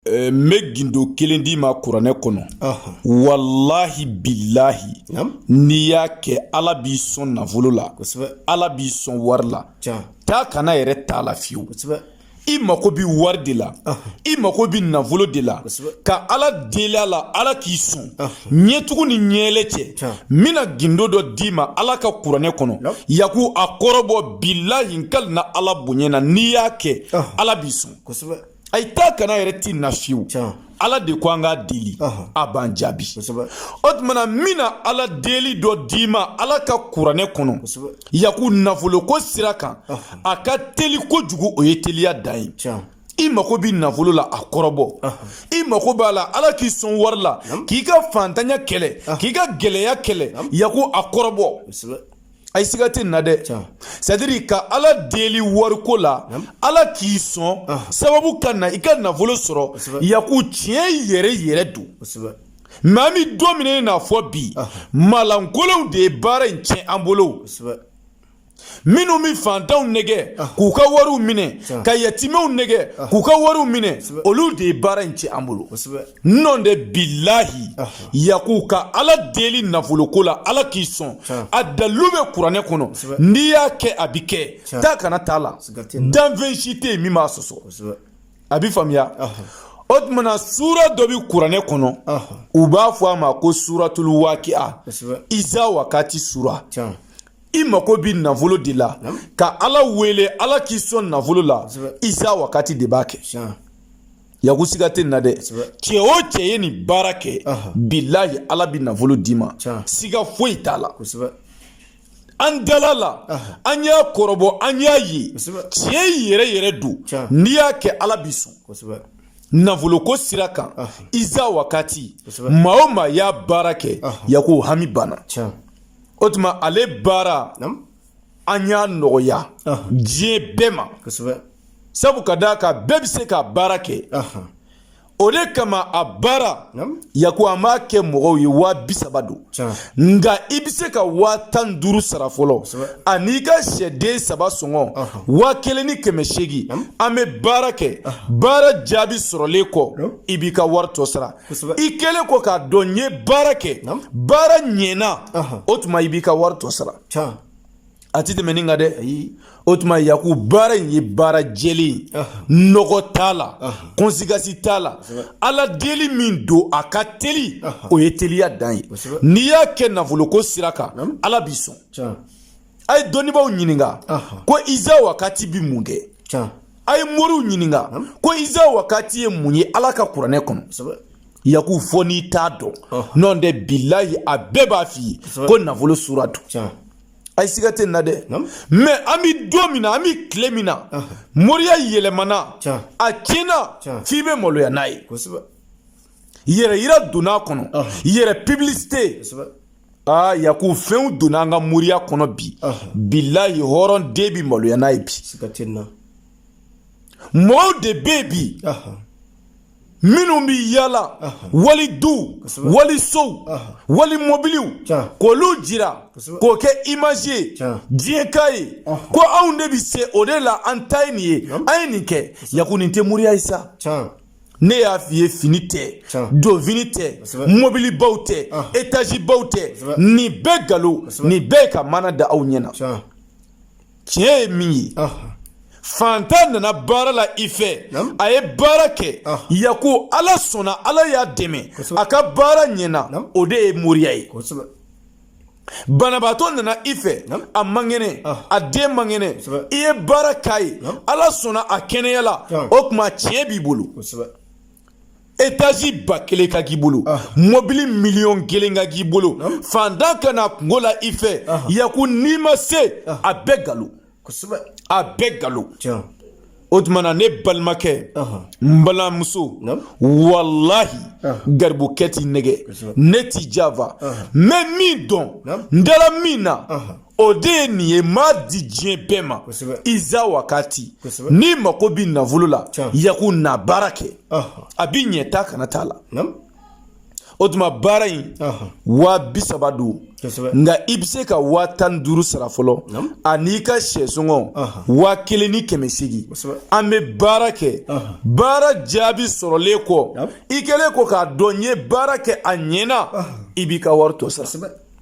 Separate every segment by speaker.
Speaker 1: Eh, n bɛ gindo kelen d'i ma kuranɛ kɔnɔ walahi bilahi n'i y'a kɛ ala b'i sɔn nafolo la ala b'i sɔn wari la taa ka na yɛrɛ t'a la fiyewu i mako bɛ wari de la i mako bɛ nafolo de la ka ala deli a la ala k'i sɔn ɲɛtugu ni ɲɛyɛlɛ cɛ n bɛna gindo dɔ d'i ma ala ka kuranɛ kɔnɔ yaku a kɔrɔbɔ bilahi n kalina ala bonya na n'i y'a kɛ ala b'i sɔn ayi taa ka na yɛrɛ tɛ nin na fiyewu ala de ko an k'a deli a b'an jaabi o tuma na n bɛna ala deli dɔ d'i ma ala ka kuranɛ kɔnɔ yaku nafolo ko sira kan a ka teli kojugu o ye teliya dan ye i mago bɛ nafolo la a kɔrɔbɔ i mago b'a la ala k'i sɔn wari la k'i ka fantanya kɛlɛ k'i ka gɛlɛya kɛlɛ yaku a kɔrɔbɔ ayi siga tɛ nin na dɛ c'est-à-dire ka ala deli wariko la ala k'i sɔn sababu ka na i ka nafolo sɔrɔ yaku tiɲɛ yɛrɛ yɛrɛ don mais an bɛ don min na i n'a fɔ bi maalankolonw de ye baara in tiɲɛ an bolo minnu bɛ fantanw nɛgɛn k'u ka wariw minɛ ka yatimɛw nɛgɛn k'u ka wariw minɛ olu de ye baara in tiɲɛ an bolo nɔntɛ bilahi yaku ka ala deli nafoloko la ala k'i sɔn a dalilu bɛ kuranɛ kɔnɔ n'i y'a kɛ a bi kɛ taa ka na t'a la danfɛn si tɛ yen min b'a sɔsɔ a bi faamuya o tuma na sura dɔ bi kuranɛ kɔnɔ u b'a fɔ a ma ko suratul waki'a iza wakati sura i mako bi nafolo de la ka ala wele ala k'i sɔn nafolo la iza wakati de b'a kɛ yaku siga tɛ nin na dɛ cɛ o cɛ ye nin baara kɛ bilahi ala bi nafolo d'i ma siga foyi t'a la an dal'a la an y'a kɔrɔbɔ an y'a ye tiɲɛ yɛrɛ yɛrɛ don n'i y'a kɛ ala b'i sɔn nafoloko sira kan iza wakati maa o maa y'a baara kɛ yaku hami banna o tuma ale baara an y'a nɔgɔya diɲɛ bɛɛ ma sabu ka d'a kan bɛɛ bɛ se ka baara kɛ o de kama a baara yaku an b'a kɛ mɔgɔw ye waa bi saba don nka i bɛ se ka waa tan duuru sara fɔlɔ an'i ka sɛden saba sɔngɔ waa kelen ni kɛmɛ seegin an bɛ baara kɛ baara jaabi sɔrɔlen kɔ i b'i ka wari tɔ sara i kɛlen kɔ k'a dɔn n ye baara kɛ baara ɲɛna o tuma i b'i ka wari tɔ sara a ti tɛmɛ nin kan dɛ o tuma yaku baara in ye baara jɛlen nɔgɔ t'a la kɔnsekansi t'a la ala deli min don a ka teli o ye teliya dan ye n'i y'a kɛ nafoloko sira kan ala b'i sɔn a ye dɔnnibaaw ɲininka ko iza wakati bi mun kɛ a ye moriw ɲininka ko iza wakati ye mun ye ala ka kuranɛ kɔnɔ yaku fɔ n'i t'a dɔn nɔntɛ bilayi a bɛɛ b'a f'i ye ko nafolo sura don ayi siga tɛ nin na dɛ mɛ an bɛ don min na an bɛ tile min na moriya yɛlɛmana a tiɲɛna f'i bɛ maloya n'a ye yɛrɛyira donna a kɔnɔ yɛrɛ pibilisite aa yaku fɛnw donna an ka moriya kɔnɔ bi bilayi hɔrɔn den bi maloya n'a ye bi mɔgɔw de bɛ yen bi minnu bɛ yala wali duw wali sow wali mɔbiliw k'olu jira k'o kɛ imazi ye diɲɛ k'a ye ko anw de bɛ se o de la an ta ye nin ye an ye nin kɛ yaku nin tɛ moriya ye sa ne y'a f'i ye fini tɛ donfini tɛ mɔbilibaw tɛ etazibaw tɛ nin bɛɛ nkalon nin bɛɛ ka mana da aw ɲɛ na tiɲɛ ye min ye fantan nana baara la i fɛ a ye baara kɛ yaku ala sɔnna ala y'a dɛmɛ a ka baara ɲɛna o de ye moriya ye banabaatɔ nana i fɛ a man kɛnɛ a den man kɛnɛ i ye baara k'a ye ala sɔnna a kɛnɛyala o tuma tiɲɛ b'i bolo etazi ba kelen ka k'i bolo ah. mɔbili miliyɔn kelen ka k'i bolo ah. fantan ka na kunko la i fɛ ah. yaku n'i ma se a bɛɛ galo a bɛɛ galo o tuma na ne balimakɛ n balimamuso walahi garibukɛ t'i nɛgɛn ne t'i janfa n bɛ min dɔn n dala min na o de ye nin ye n b'a di diɲɛ bɛɛ ma iza wakati n'i mako bɛ nafolo la yaku na baara kɛ a bɛ ɲɛ ta kana t'a la o tuma baara in waa bi saba don nka i bɛ se ka waa tan ni duuru sara fɔlɔ an'i ka syɛ sɔngɔ waa kelen ni kɛmɛ seegin an bɛ baara kɛ baara jaabi sɔrɔlen kɔ i kɛlen kɔ k'a dɔn n ye baara kɛ a ɲɛna i b'i ka wari tɔ sara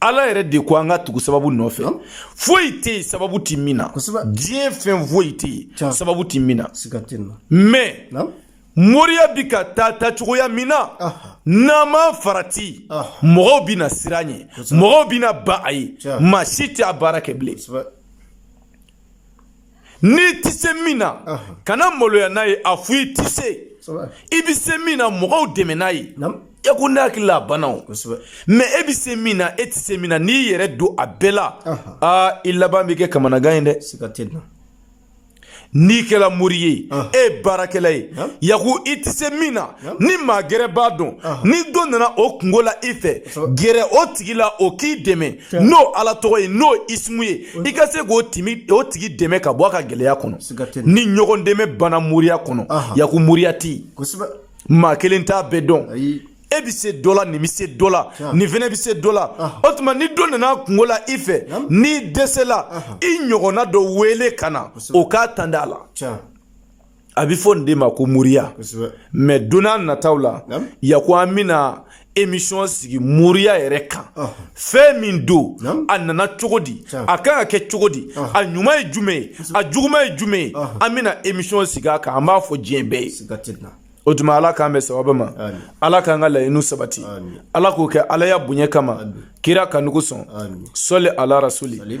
Speaker 1: ala yɛrɛ de ko an ka tugu sababu nɔfɛ foyi tɛ yen sababu tɛ min na diɲɛ fɛn foyi tɛ yen sababu tɛ min na mɛ moriya bi ka taa ta cogoya min na n'an ma farati mɔgɔw bɛna siran a ɲɛ mɔgɔw bɛna ban a ye maa si tɛ a baara kɛ bilen n'i tɛ se min na kana maloya n'a ye a fɔ i tɛ se i bɛ se min na mɔgɔw dɛmɛ n'a ye yaku ne hakili la a banna o mɛ e bɛ se min na e tɛ se min na n'i yɛrɛ don a bɛɛ la aa i laban bɛ kɛ kamanagan ye dɛ n'i kɛla mori ye e ye baarakɛla ye yaku i tɛ se min na ni maa gɛrɛ b'a dɔn ni dɔ nana o kungo la i fɛ gɛrɛ o tigi la o k'i dɛmɛ n'o ala tɔgɔ ye n'o ismu ye i ka se k'o tigi dɛmɛ ka bɔ a ka gɛlɛya kɔnɔ ni ɲɔgɔn dɛmɛ banna moriya kɔnɔ yaku moriya tɛ maa kelen t'a bɛɛ dɔn e bɛ se dɔ la nin bɛ se dɔ la nin fana bɛ se dɔ la o tuma ni dɔ nana kungo la i fɛ n'i dɛsɛla i ɲɔgɔnna dɔ wele ka na o k'a tanda a la a bɛ fɔ nin de ma ko moriya mɛ don nataw la yaku an bɛna emisɔn sigi moriya yɛrɛ kan fɛn min don a nana cogo di a kan ka kɛ cogo di a ɲuman ye jumɛn ye a juguman ye jumɛn ye an bɛna emisɔn sigi a kan an b'a fɔ diɲɛ bɛɛ ye o tuma ala k'an bɛn sababa ma ala k'an ka laɲiniw sabati ala k'o kɛ alaya bonya kama kira kanu kosɔn sɔli ala rasuli